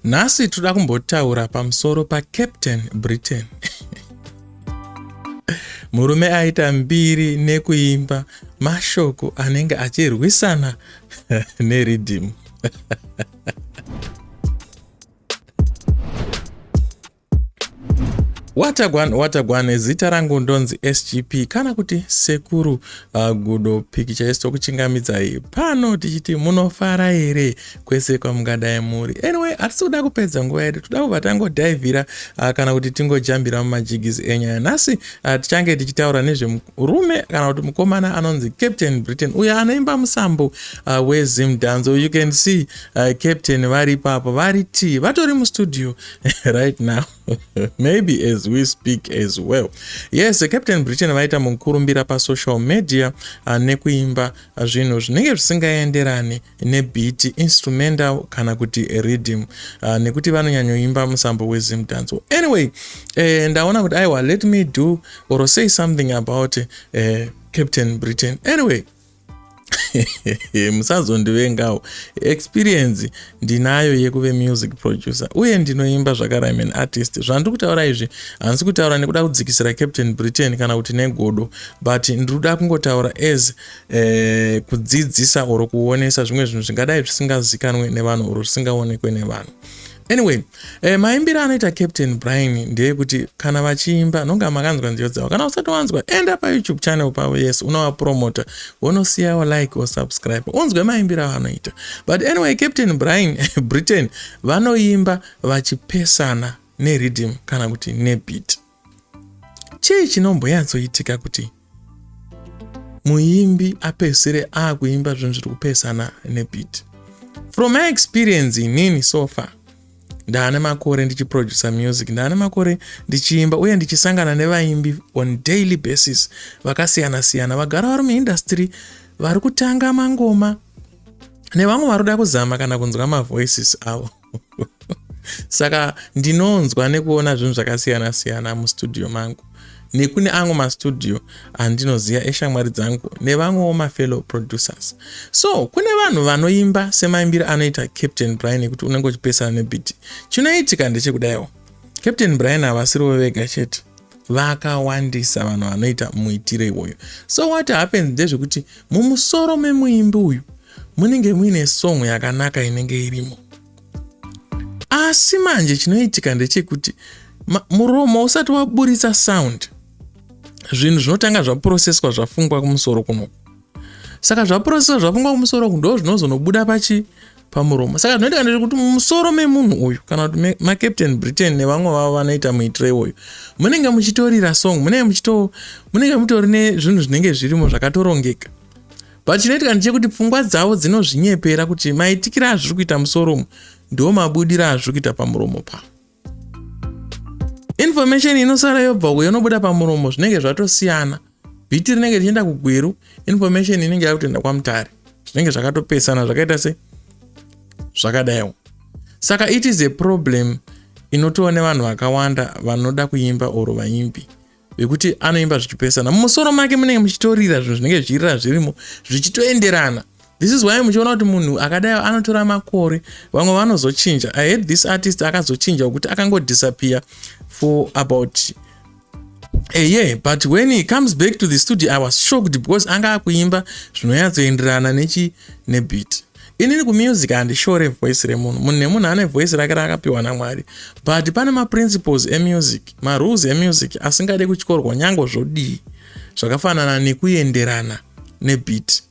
Nhasi toda kumbotaura pamusoro paCaptain Britain. Murume aita mbiri nekuimba mashoko anenge achirwisana neridhimu. watagwan watagwan zita rangu ndonzi sgp kana kuti sekuru uh, gudo pikicha yesu tokuchingamidzai pano tichiti munofara here kwese kwamungadai muri anyway hatisi kuda kupedza nguva yedu toda kubva tangodhaivhira uh, kana kuti tingojambira mumajigisi enyaya nhasi uh, tichange tichitaura nezvemurume kana kuti mukomana anonzi captain britain uyo anoimba musambo uh, wezimdanzo you can see uh, captain vari ipapo vari tii vatori mustudio right now maybe as we speak as well yes captain britain vaita mukurumbira pasocial media uh, nekuimba zvinhu zvinenge zvisingaenderani nebiti instrumental kana kuti readym uh, nekuti vanonyanyoimba musambo wezim danzo anyway eh, ndaona kuti aiwa let me do or say something about eh, captain britain anyway musazondivengawo experience ndinayo yekuve music producer uye ndinoimba zvakarime an artist zvandiri kutaura izvi handisi kutaura nekuda kudzikisira captain britain kana kuti negodo but ndiri kuda kungotaura as eh, kudzidzisa or kuonesa zvimwe zvinhu zvingadai zvisingazikanwe nevanhu or zvisingaonekwe nevanhu Anyway, eh, maimbire anoita Captain Brian ndeyekuti kana vachiimba nonga makanzwa nziyo dzavo. Kana usati wanzwa, enda pa YouTube channel pavo yes, unova promoter. Wonosiyawo like or subscribe. Unzwe maimbire avanoita. But anyway, Captain Brian Britain vanoimba vachipesana ne rhythm kana kuti ne beat. Chii chinomboyatsoitika kuti muimbi apedzisire akuimba zvinhu zviri kupesana nebit from my experience inini so far ndaane makore ndichiproducer music ndaane makore ndichiimba uye ndichisangana nevaimbi on daily basis vakasiyana siyana vagara vari muindastry vari kutanga mangoma nevamwe vari kuda kuzama kana kunzwa mavoices avo saka ndinonzwa nekuona zvinhu zvakasiyana siyana mustudio mangu nekune amwe mastudio andinoziva eshamwari dzangu nevamwewo mafellow producers so kune vanhu vanoimba semaimbiro anoita captain brian ekuti unenge uchipesana nebiti chinoitika ndechekudaiwo captain brian havasiriwo vega chete vakawandisa vanhu vanoita muitiro iwoyo so what happens ndezvekuti mumusoro memuimbi uyu munenge muine song yakanaka inenge irimo asi manje chinoitika ndechekuti muromo usati waburitsa sound zvinhu zvinotanga zvaproseswa zvafungwa kumusoro kunoku saka zvaproseswa zvafungwa kumusoro ku ndo zvinozonobuda pachi pamuromo saka zvinoitika ndezvekuti mumusoro memunhu uyu kana kuti macaptain britain nevamwe vavo vanoita muitiro iwoyo munenge muchitorira song munenge muchito munenge mutori nezvinhu zvinenge zvirimo zvakatorongeka but chinoitika ndechekuti pfungwa dzavo dzinozvinyepera kuti maitikira azviri kuita musoro umu ndiwo mabudira azviri kuita pamuromo pavo information inosara yobva uko yonobuda pamuromo zvinenge zvatosiyana bhiti rinenge richienda kugweru information inenge yakutoenda kwamutare zvinenge zvakatopesana zvakaita se zvakadaiwo saka it is a problem inotoone vanhu vakawanda vanoda kuimba or vaimbi vekuti anoimba zvichipesana mumusoro make munenge muchitorira zvinhu zvinenge zvichirira zvirimo zvichitoenderana this is why muchiona kuti munhu akadai anotora makore vamwe vanozochinja i had this artist akazochinja wekuti akangodisappear for about a year but when he comes back to the studio i was shocked because anga akuimba zvinoyatsoenderana nechi nebit inini kumusic handishore voice remunhu munhu nemunhu ane voice rake raakapiwa namwari but pane maprinciples emusic marules emusic asingade kutyorwa nyange zvodii zvakafanana nekuenderana nebit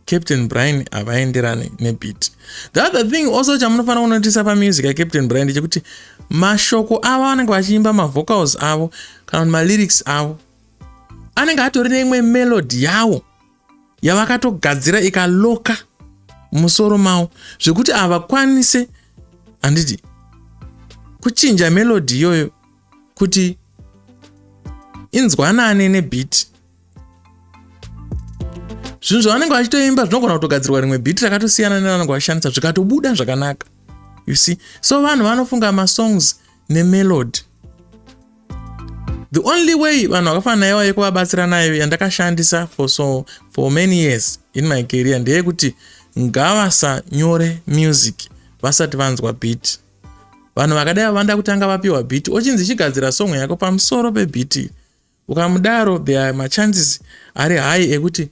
captain brian havaenderane nebit the other thing also chamunofanira kunotisa pamusic yacaptain brian ndechekuti mashoko avo vanenge vachiimba mavocals avo kana kuti malyrics avo anenge atori neimwe melody yawo yavakatogadzira ikaloka musoro mavo zvekuti havakwanise handiti kuchinja melodi iyoyo kuti inzwanane nebhiti zvinhu zvavanenge vachitoimba zvinogona kutogadzirwa rimwe bhiti rakatosiyana nevanenge vashandisa zvikatobuda zvakanaka you see so vanhu vanofunga masongs nemelody the only way vanhu vakafana naiva yekuvabatsira nayo yandakashandisa for so for many years in my career ndeyekuti ngavasanyore music vasati vanzwa beat vanhu vakadai vavanda kutanga vapiwa beat ochinzi chigadzira song yako pamusoro pebeat ukamudaro there are machances ari high ekuti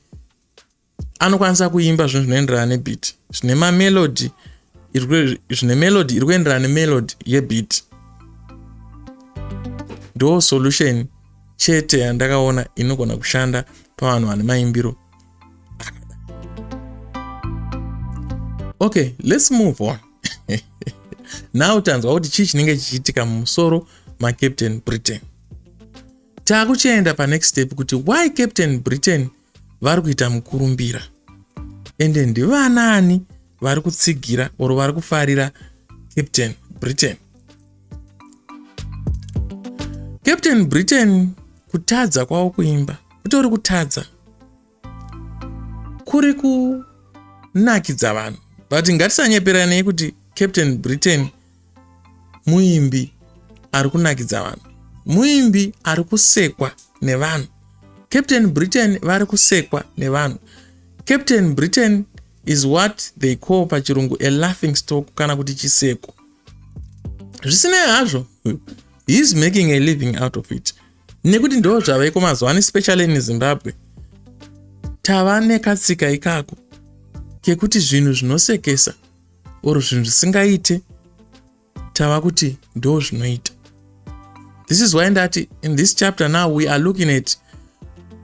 anokwanisa kuimba zvinhu zvinoenderana nebeat zvine mamelody zvine melody iri kuenderana nemelody yebeat ndo solution chete yandakaona inogona kushanda pavanhu vane maimbiro okay let's move on now tanzwa kuti chii chinenge chichiitika mumusoro macaptain britain taakuchienda panext step kuti why captain britain vari kuita mukurumbira ende ndivanaani vari kutsigira or vari kufarira captain britain captain britain kutadza kwavo kuimba kutori kutadza kuri kunakidza vanhu but ngatisanyeperanei kuti captain britain muimbi ari kunakidza vanhu muimbi ari kusekwa nevanhu captain britain vari kusekwa nevanhu captain britain is what they call pachirungu a laughing stock kana kuti chiseko zvisinei hazvo heis making a living out of it nekuti ndo zvaveko mazuva ano especially in zimbabwe tava nekatsika ikako kekuti zvinhu zvinosekesa or zvinhu zvisingaite tava kuti ndo zvinoita this is why ndati in this chapter now we are looking at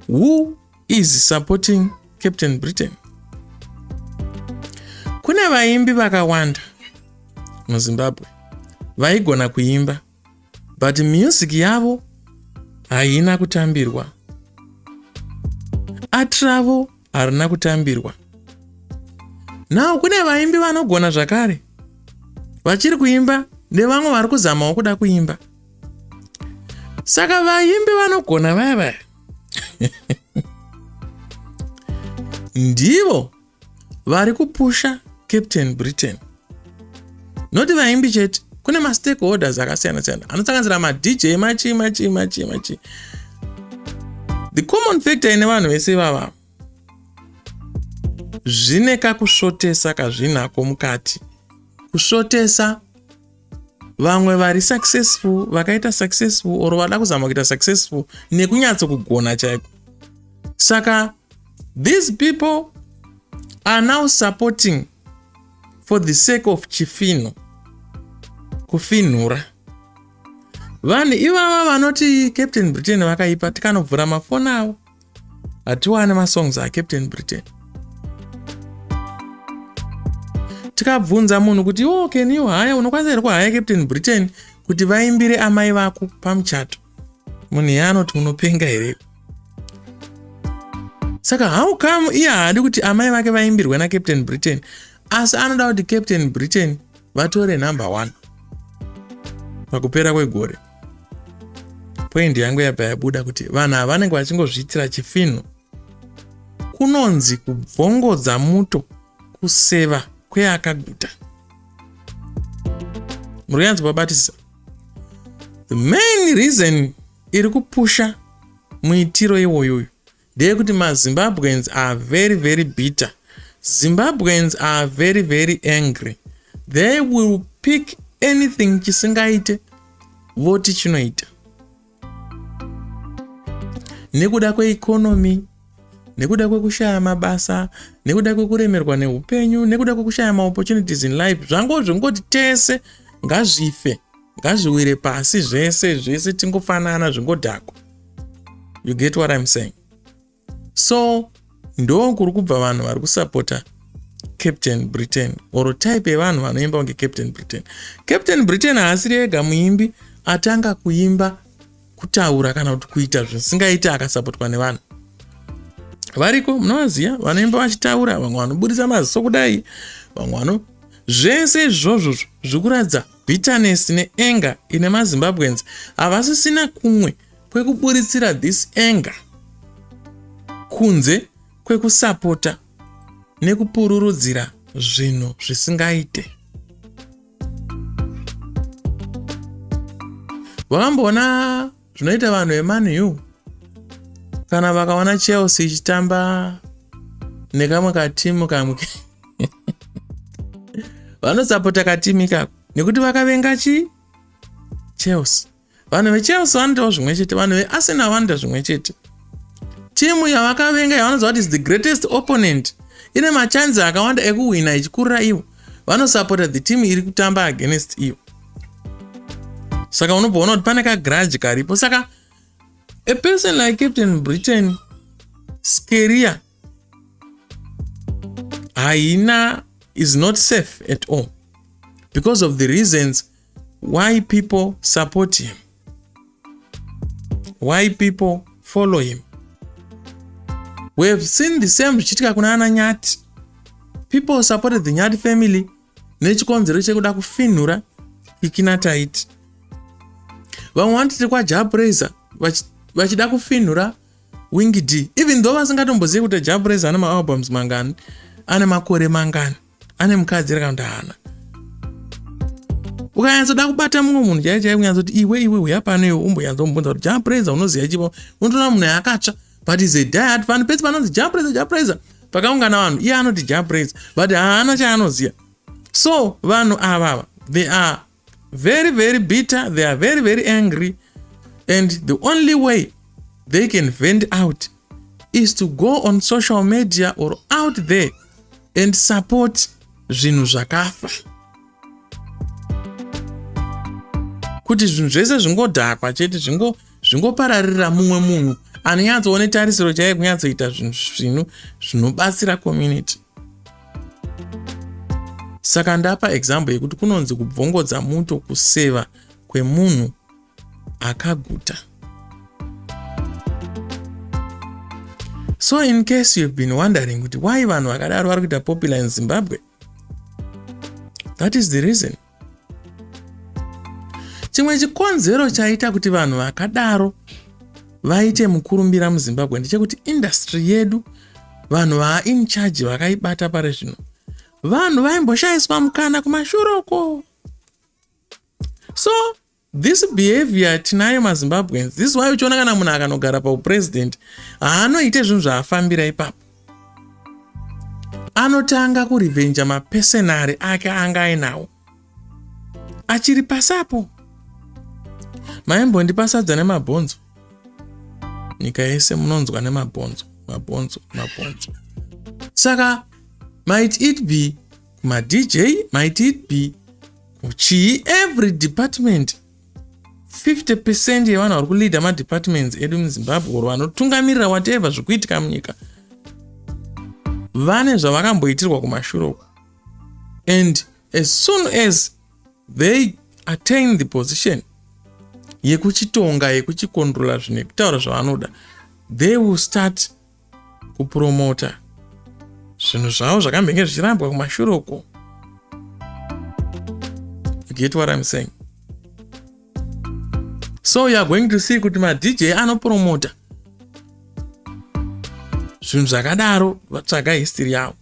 who is supporting captain britain kune vaimbi vakawanda muzimbabwe vaigona kuimba but music yavo haina kutambirwa art ravo harina kutambirwa now kune vaimbi vanogona zvakare vachiri kuimba nevamwe vari kuzamawo kuda kuimba saka vaimbi vanogona vaya vaya ndivo vari kupusha captain britain noti vaimbi chete kune mastakeholders akasiyana siyana anosanganisira madj machi machi machi machi the common factor ine vanhu vese ivava zvine kakusvotesa kazvinako mukati kusvotesa Vamwe vari successful, vakaita successful or vada kuzama kuita successful nekunyatso kugona chaiko. Saka these people are now supporting for the sake of chifino kufinhura vanhu ivava vanoti captain britain vakaipa tikanobvura mafoni avo hatiwane masongs acaptain britain tikabvunza munhu kuti iwo can you haya unokwanisa here kuhaya captain britain kuti vaimbire amai vako pamuchato munhu iye anoti unopenga here saka how come iye haadi kuti amai vake vaimbirwe nacaptain britain asi anoda kuti captain britain vatore number one pakupera kwegore point yangu yabva yabuda kuti vanhu ava vanenge vachingozviitira chifinhu kunonzi kubvongodza muto kuseva kweakaguta muri kuyanzi babatisisa the main reason iri kupusha muitiro iwoyoyo ndeyekuti mazimbabweans are very very bitter zimbabweans are very very angry they will pick anything chisingaite voti chinoita nekuda kweikonomy nekuda kwekushaya mabasa nekuda kwekuremerwa neupenyu nekuda kwekushaya maopportunities in life zvangozvingoti tese ngazvife ngazviwire pasi zvese zvese tingofanana zvingodhakwa you get what im saying so ndo kuri kubva vanhu vari kusapota captain britain or type yevanhu vanoimba kunge captain britain captain britain haasiri ega muimbi atanga kuimba kutaura kana kuti kuita zvisingaiti akasapotwa nevanhu variko munovaziva vanoimba vachitaura vamwe vanoburitsa maziso kudai vamwe vano zvese izvozvo zvikuratidza Bitterness ne anger ine ma Zimbabweans havasisina kumwe kwekuburitsira this anger kunze kwekusapota nekupururudzira zvinhu zvisingaite. Wakamboona zvinoita vanhu veman u kana vakaona chelsea ichitamba nekamwe katimu kamwe vanosapota katimu ikako nekuti vakavenga chi chelsea vanhu vechelsea vanoitawo zvimwe chete vanhu vearsenal vanoita zvimwe chete timu yavakavenga yavanoziva kuti is the greatest opponent ine machanzi akawanda ekuhwina ichikurira ivo vanosapota the team iri kutamba against iyo saka unobva ona kuti pane kagrudge karipo saka a person like captain britain skeria haina is not safe at all because of the reasons why people support him why people follow him we have seen the same zvichiitika kuna ana nyati people supported the nyati family nechikonzero chekuda kufinhura kikina taiti vamwe vanotiti kwajapraiser vachida kufinhura wing d even though vasingatombozivi kuti japraiser ane maalbums mangani ane makore mangani ane mukadzi ere kana kuti haana ukanyatsoda kubata mumwe munhu chai chai kunyatsoti iwe iwe huya pano iwe umbonyatsomubvunza kuti japraiser unoziva chipo unotoona munhu yaakatsva but is a diat vanhu pese panonzi japraiser japraiser pakaungana vanhu iye anoti japraiser but haana chaanoziva so vanhu avava they are very very bitter they are very very angry and the only way they can vend out is to go on social media or out there and support zvinhu zvakafa kuti zvinhu zvese zvingodhakwa chete zvingo zvingopararira mumwe munhu anonyatsoone tarisiro chaiye kunyatsoita zvinhu zvinu zvinobatsira community saka ndapa example yekuti kunonzi kubvongodza muto kuseva kwemunhu akaguta so in case you've been wondering kuti why vanhu vakadaro vari kuita popular in zimbabwe that is the reason chimwe chikonzero chaita kuti vanhu vakadaro vaite mukurumbira muzimbabwe ndechekuti indastry yedu vanhu vaain charge vakaibata pari zvino vanhu vaimboshaiswa mukana kumashure uko so This behavior tinayo maZimbabweans. This why uchiona kana munhu akanogara paupresident haanoite zvinhu zvaafambira ipapo. Anotanga kurivenja mapesenari ake anga ainawo. Achiri pasapo. Maimbondi pasadza nemabhonzo. Nyika yese munonzwa nemabhonzo, mabhonzo, mabhonzo. Saka might it be ma dj might it be chii every department 50 percent yevanhu vari kuleader madepartments edu muzimbabwe or vanotungamirira whatever zvikuitika munyika vane zvavakamboitirwa kumashure uku and as soon as they attain the position yekuchitonga yekuchikontrola zvinhu yekutaura zvavanoda they will start kupuromota zvinhu zvavo zvakambenge zvichirambwa kumashure uko get what I'm saying so you're going to see kuti madj anopromota zvinhu zvakadaro vatsvaga history yavo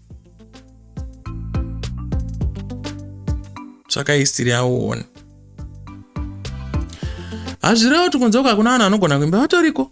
tsvaka history yavo uone hazvirevo tikunze uko hakuna vanhu vanogona kuimba vatoriko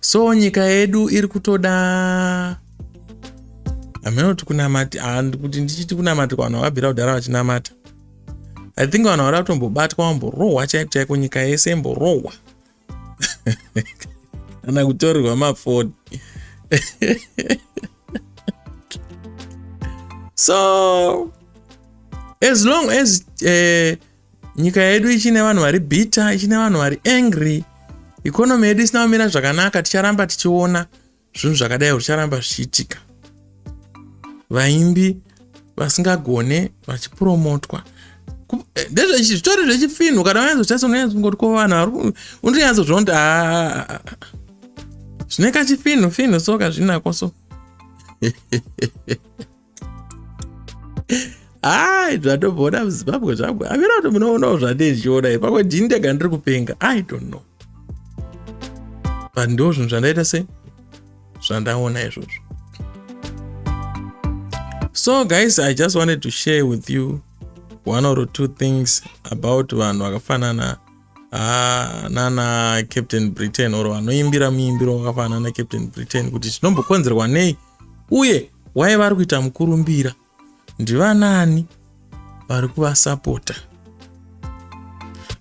so nyika yedu iri kutoda hameno kuti kunamati handi kuti ndichiti kunamati kwavanhu vakabvira kudhara vachinamata i think vanhu vari kutombobatwa vamborohwa chaiko chaiko nyika yese imborohwa kana kutorerwa mafoni so as long as uh, nyika yedu ichine vanhu vari bitter ichine vanhu vari angry ikonomi yedu isina kumira zvakanaka ticharamba tichiona zvinhu zvakadai zvicharamba zvichiitika vaimbi vasingagone vachipromotwa eh, ndezvezvitori zvechifinhu kana vanyazochasononyazongoti ko vanhu unotonyazozviona kuti ah, ah, ah, zvine kachifinhu finhu so kazvinako so ai zvatomboona muzimbabwe zvangu amira kuti munoonawo zvandee zvichiona i pamwe ndini ndega ndiri kupenga i don't know but ndo zvinhu zvandaita se zvandaona izvozvo so guys i just wanted to share with you one or two things about vanhu vakafanana Ah, nana captain britain or vanoimbira muimbiro wakafanana nacaptain britain kuti chinombokonzerwa nei uye waye vari kuita mukurumbira ndivanani vari kuvasapota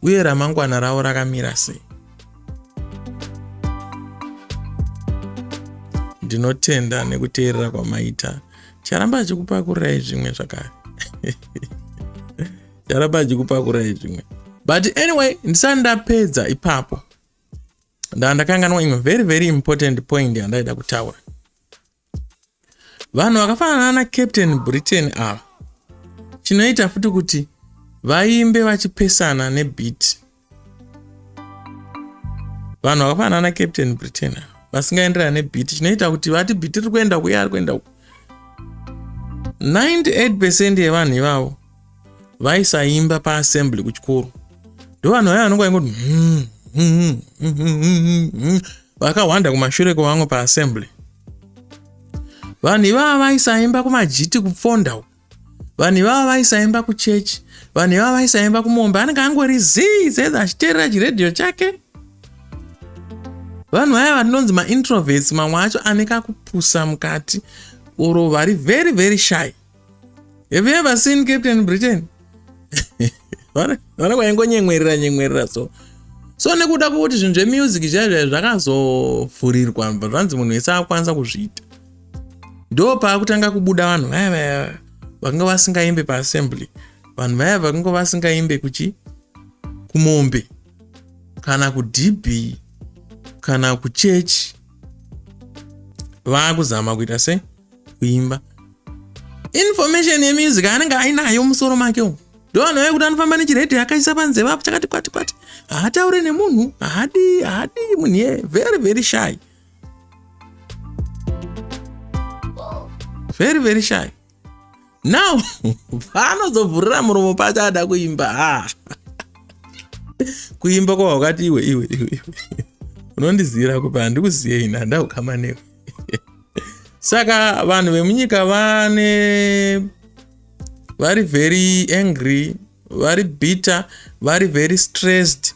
uye ramangwana ravo rakamira sei ndinotenda nekuteerera kwamaita charamba achikupakurirai zvimwe zvakare ndaramba ndichikupakurai zvimwe but anyway ndisati ndapedza ipapo ndaa ndakanganwa imwe very very important point yandaida kutaura vanhu vakafanana na captain britain ava chinoita futi kuti vaimbe vachipesana nebit vanhu vakafanana na captain britain vasingaenderana nebhiti chinoita kuti vati bhiti riri kuenda kuye ari kuenda ku 98 percent yevanhu ivavo vaisaimba paassembly kuchikoro ndo vanhu vaya vanonga vaingoti hmm, hmm, hmm, vakahwanda kumashure kwevamwe paassembly vanhu ivava vaisaimba kumajiti kupfonda uku vanhu ivava vaisaimba kuchechi vanhu ivava vaisaimba kumombe anenge angori zii saizi achiteerera chiredhiyo chake vanhu vaya vatinonzi maintroverts mamwe acho ane kakupusa mukati oro vari very very shy have you ever seen captain britain vana kwaingonyemwerera nyemwerera so so nekuda kwekuti zvinhu zvemusic zvaizvai zvakazovhurirwa zvanzi munhu wese akwanisa kuzviita ndo paakutanga kubuda vanhu vaya vaya vakanga vasingaimbe paassembly vanhu vaya vakanga vasingaimbe kuchi kumombe kana kudb kana kuchechi vaakuzama kuita se kuimba information yemusic anenge ainayo musoro make umu ndoano aye kuti anofamba nechiredhi akaisa panze vapo chakati kwati kwati haataure nemunhu haadii haadii munhu iye very very shy very very shy now paanozovhurira muromo pacho ada kuimba ha ah. kuimba kwa wakati iwe iwe iwe iwe unondiziyira kupa handikuziye ini handa kukama newe saka vanhu vemunyika vane vari very angry vari bitter vari very stressed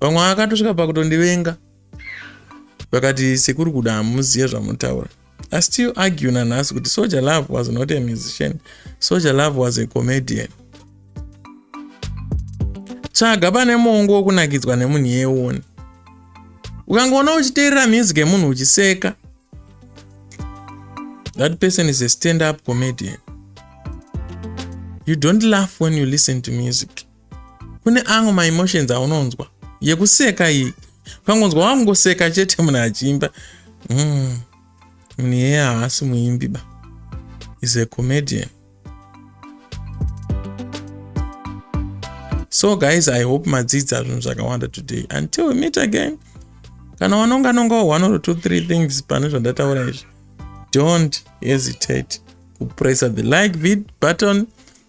vamwe vakatosvika pakutondivenga vakati sekuri kuda hamuzive zvamunotaura i still argue nanhasi kuti soja love was not a musician soja love was a comedian tsvaga pane mongo wokunakidzwa nemunhu yeione ukangoona uchiteerera music yemunhu uchiseka that person is a stand up comedian you don't laugh when you listen to music kune amwe maemotions aunonzwa yekuseka iyi pangonzwa wamungoseka chete munhu achiimba mm. munhu iyeye haasi muimbi ba is a comedian so guys i hope madzidza zvinhu zvakawanda today until we meet again kana wanonga nonga one or two three things pane zvandataura izvi don't hesitate kupressa the like vid button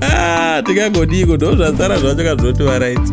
Ah, tingangodiko ndo zvasara zvacho kazvoti varaidzi